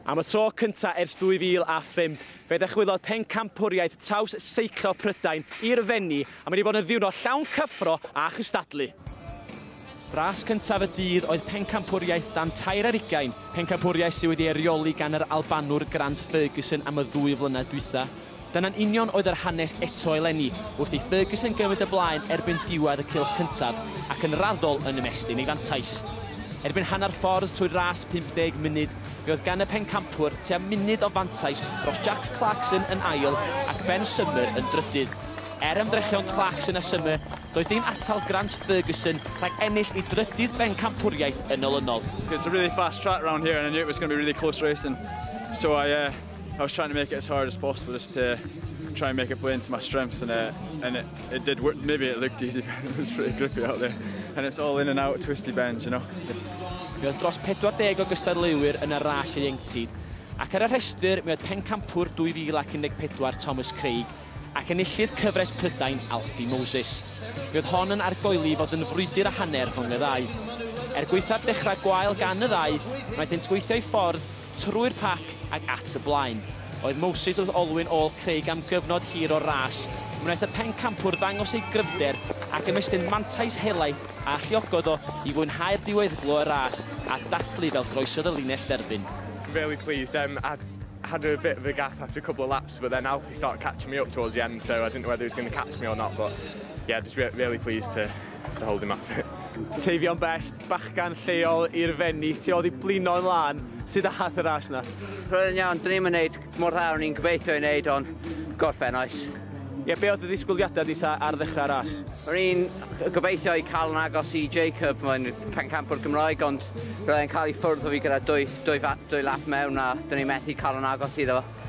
Am y tro cyntaf ers 2005, fe ddychwelodd pencampwriaeth traws seiclo Prydain i'r Fenni a mae wedi bod yn ddiwrnod llawn cyffro a chystadlu. Ras cyntaf y dydd oedd pencampwriaeth dan tair ar ugain, pencampwriaeth sydd wedi ei reoli gan yr Albanwr Grant Ferguson am y ddwy flynedd dwytha. Dyna'n union oedd yr hanes eto eleni, wrth i Ferguson gymryd y blaen erbyn diwedd y cylch cyntaf, ac yn raddol yn ymestyn ei fantais. Erbyn hanner ffordd trwy'r ras 50 munud, fe oedd gan y pencampwr tua munud o fantais dros Jacques Clarkson yn ail ac Ben Summer yn drydydd. Er ymdrechion Clarkson a Summer, doedd dim atal Grant Ferguson rhag ennill ei drydydd bencampwriaeth yn olynol. It's a really fast track round here and I knew it was going to be a really close race and so I uh, I was trying to make it as hard as possible just to try and make it play into my strengths and, uh, and it, it did work. Maybe it looked easy, but it was pretty grippy out there. And it's all in and out, twisty bends, you know. Mi oedd dros 40 o gystadleuwyr yn y ras ieuenctid, ac ar y rhestr mi oedd pencampwr 2014 Thomas Craig ac enillydd cyfres Prydain Alfie Moses. Mi oedd hon yn argoeli fod yn frwydr a hanner rhwng y ddau. Er gweithad dechrau gwael gan y ddau, wnaethant gweithio'i ffordd Trwy'r pac ac at y blaen oedd Moses wrth olwyn ôl Craig am gyfnod hir o'r ras. Wnaeth y pencampwr ddangos ei gryfder ac ymestyn mantais helaeth a alluogodd o i fwynhau'r diweddglo y ras a dathlu fel groesodd y linell dderfyn. Really pleased, um, I had a bit of a gap after a couple of laps but then Alfie started catching me up towards the end so I didn't know whether he was going to catch me or not but yeah, just really pleased to, to hold him off. Teifion best. bachgan lleol i'r fenni ti oddi blino yn lân, sud ath y ras na? Roedd yn iawn, dwn i'm yn neud mor dda o'n i'n gobeithio i neud ond gorffen oes. Ie be oedd dy ddisgwyliadau di sa ar ddechrau ras? O'n i'n gobeithio i cael yn agos i Jacob, mae'n pencampwr Gymraeg ond roedd e'n cael i ffwrdd o fi gyda dwy, dwy, dwy lap mewn a dwn i'n methu cael yn agos iddo fo.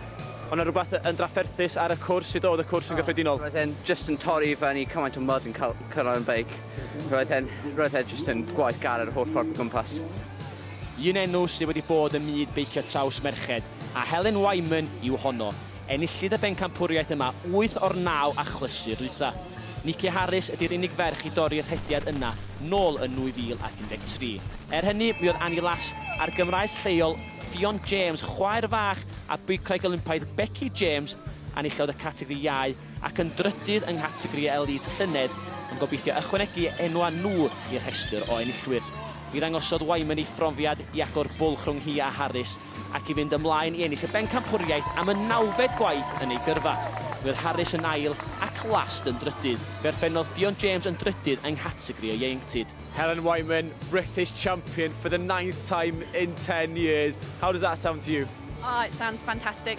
Oedd na rhywbeth yn drafferthus ar y cwrs, sut oedd y cwrs yn gyffredinol? Roedd e'n just yn torri i fyny cymaint o mud yn cyrraedd yn beic. Roedd e'n, roedd e jyst yn gwaith gar yr holl ffordd o gwmpas. Un enw sydd wedi bod ym myd beicio traws merched, a Helen Wyman yw honno. Enillid y bencampwriaeth yma wyth o'r naw achlysur dwytha. Niki Harris ydi'r unig ferch i dorri'r rhediad yna nôl yn 2013. Er hynny, mi oedd Annie Last a'r Gymraes lleol Ffion James, chwaer fach a beicwraig Olympaidd Becky James, enillodd y categori iau ac yn drydydd yng nghategori elît llynedd yn gobeithio ychwanegu enwau nhw i'r rhestr o enillwyr. Mi ddangosodd Wyman ei phrofiad i agor bwlch rhwng hi a Harris ac i fynd ymlaen i ennill y Bencampwriaeth am y nawfed gwaith yn ei gyrfa. Mi oedd Harris yn ail ac Last yn drydydd. Fe orffennodd Ffion James yn drydydd yng nghategori y ieuenctid. Helen Wyman, British champion for the ninth time in ten years. How does that sound to you? Oh, it sounds fantastic.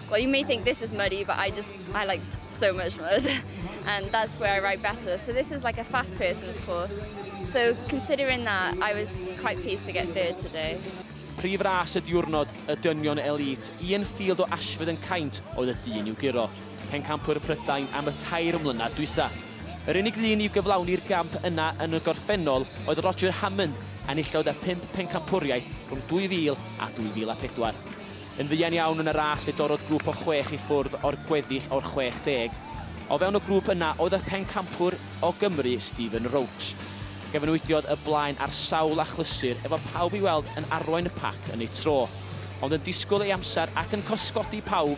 Well, you may think this is muddy, but I just, I like so much mud. And that's where I ride better. So this is like a fast person's course. So considering that, I was quite pleased to get third today. Prif ras y diwrnod, y dynion elite, Ian Field o Ashford yn caint oedd y dyn i'w guro. Pencampwr Prydain am y tair mlynedd dwytha. Yr unig ddyn i'w gyflawni'r gamp yna yn y gorffennol oedd Roger Hammond, enillodd y pimp pencampwriaeth rhwng 2000 a 2004. Yn fuan iawn yn y ras fe dorrodd grŵp o chwech i ffwrdd o'r gweddill o'r 60. O fewn y grŵp yna oedd y pencampwr o Gymru, Stephen Roche. Gyfanwydiodd y blaen ar sawl achlysur efo pawb i'w weld yn arwain y pac yn eu tro. Ond yn disgwyl ei amser ac yn cosgodi pawb,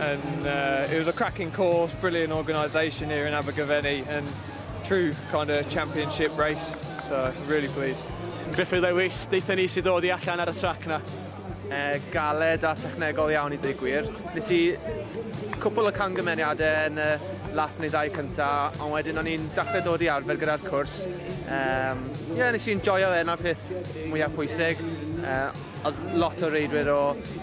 and uh, it was a cracking course, brilliant organisation here in Abergavenny, and true kind of championship race. So really pleased. Griffith Lewis, deitha ni sydd dod i allan ar y trac na. Uh, galed a technegol iawn i digwyr. Nes i cwpl o cangymeniadau yn y lap neu ddau cyntaf, ond wedyn o'n i'n dachled dod i arfer gyda'r cwrs. Um, yeah, nes i'n joio fe, yna peth mwyaf pwysig. Uh, Oedd lot o reidwyr o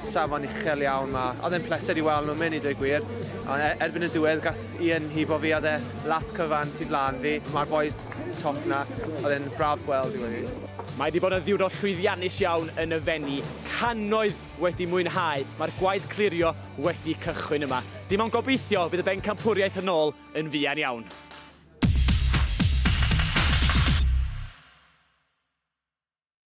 safon uchel iawn 'ma. Oedd e'n pleser i weld nhw'n mynd i dweud gwir. Ond e- erbyn y diwedd gath Ian hibo fi a oedd e lap cyfan tu flaen fi. Mae'r bois top 'na. Oedd e'n braf gweld i weud y gwir. Mae 'di bod yn ddiwrnod llwyddiannus iawn yn y Fenni. Cannoedd wedi mwynhau. Mae'r gwaith clirio wedi cychwyn yma. Dim ond gobeithio fydd y bencampwriaeth yn ôl yn fuan iawn.